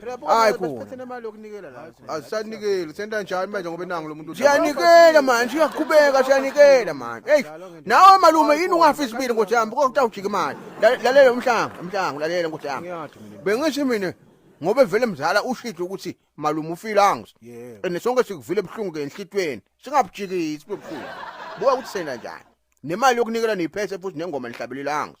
Phela Hayi bona khona. basiphethe nemali yokunikela la. Asanikeli senta njani manje ngoba nangu lomuntu siyanikela manje siyaqhubeka siyanikela manje eyi nawe malume yini ungafi isibili nkosi yami kodwa utawujika imali La- lalela umhlango umhlango lalela nkosi yami Ngiyathi mina. bengithi mina ngobe vele mzala ushitsho ukuthi malume ufile angus Yebo. and sonke sikuvile ebuhlungu ke enhlitweni singabujikisi bubuhlungu buka ukuthi sena njani nemali yokunikela niyiphese futhi nengoma nihlabelela angus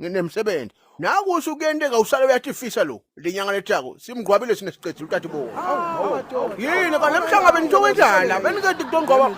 nginemsebenzi nakusho kuyenteka usale uyatifisa lo lenyanga lethako simgqwabile sine siqedile utati bo yini kanti namhlanga benithokwenzani la benikedi kutongqwaba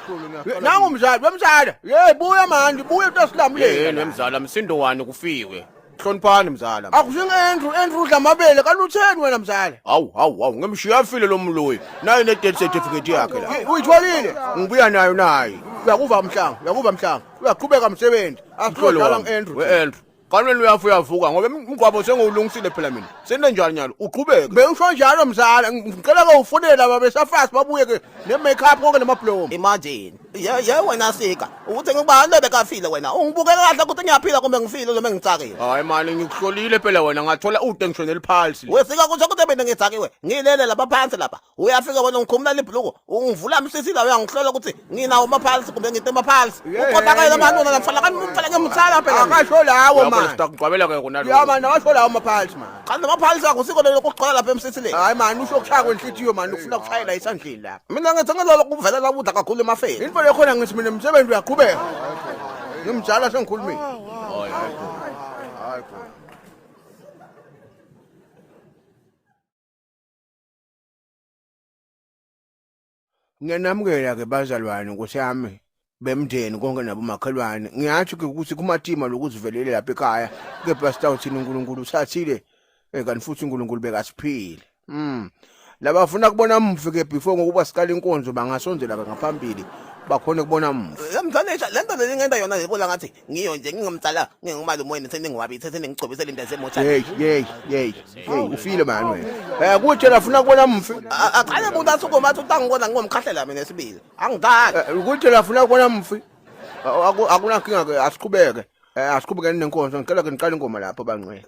nangu mzali wemzala ye buya manje buya utasilamuleni yini wemzala msindo wani kufiwe hloniphani mzala akusingendru endru udla amabele kanti utheni wena mzala hawu hawu hawu ngemshiya afile lo mloyi naye ne-death certificate yakhe la uyitholile ngibuya nayo naye uyakuva mhlanga uyakuva mhlanga uyaqhubeka msebenzi asidlala ngiAndrew weAndrew kanwena uyafa uyavuka ngoba umgwabo sengiwulungisile phela mina senenjani nyalo uqhubeke bewusho njalo mzala ngicela ke ufonela baba esafazi babuye ke ne-makeup konke namablomu imagine ye ye wena sika ukuthi ngibani obekafile wena ungibukeka kahle ukuthi ngiyaphila kumbe ngifile noma ngitsakile hayi mani ngikuhlolile phela wena ngathola ude ngisho neliphalsi wesika kusho ukuthi mina ngitsakiwe ngilele lapha phansi lapha uyafika wena ngikhumula libhuluko ungivula msisi la uyangihlola ukuthi nginawo amaphalisi kumbe ngite amaphalisi uqondakayela amanona lamfana kanti umfana ngemthala phela akasho lawo manje sitakugcwabela ke kona lo yama nawasho lawo amaphalisi manje kanti amaphalisi akho siko lelo kugcwala lapha emsisi le hayi manje usho kushaya kwenhlitiyo manje ufuna kushayela isandleni la mina ngithi ngelolo kuvela la kudla kakhulu emafeni into lekhona ngithi mina umsebenzi uyaqhubeka ngimjala sengikhulumile hayi hayi hayi Ngiyanamukela-ke bazalwane, Nkosi yami, bemndeni konke nabomakhelwane. Ngiyatsho-ke ukuthi kumatima lokuzivelele lapha ekhaya, kepha sitawu thina uNkulunkulu uthathile, eh, kanti futhi uNkulunkulu bekasiphile. Mm. Laba bafuna kubona mufi ke before ngokuba siqala inkonzo bangasondela ke ngaphambili bakhone kubona mufi. Yamdlalisa le nto le ngenda yona yebo la ngathi ngiyo nje ngingomdala ngingumalume wenu seningwabi seseningigcobisela into yasemotsha yeyi yeyi yeyi yeyi ufile mani wena um kutshela funa kubona mfi aqale muntu asukuma athi utangibona ngingomkhahlela mina esibili angidali eh, kutshela funa kubona mfi akunankinga-ke asiqhubeke um asiqhubekeni nenkonzo ngicela ke niqale ingoma lapho bangcwele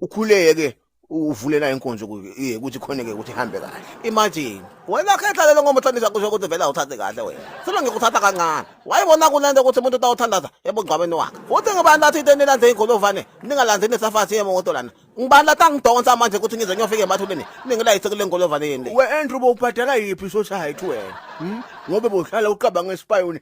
ukhuleke ke uvulela inkonzo kuye ukuthi khona ke ukuthi ihambe kahle imagine wena khetha lelo ngoba uthandisa kusho ukuthi vele awuthathi kahle wena sima ngikuthatha kancane wayibona kunento ukuthi umuntu utawuthandaza ebugcwabeni wakhe futhi ngibani lathi into enilandze igolovane ningalandzi nesafasi yemoto lana ngibani lathi angidonsa manje ukuthi ngize ngiyofika emathuleni ningilayise kule ngolovane yini we andrew bowubhadala yiphi society wena hmm? ngobe bohlala uqabanga esipayoni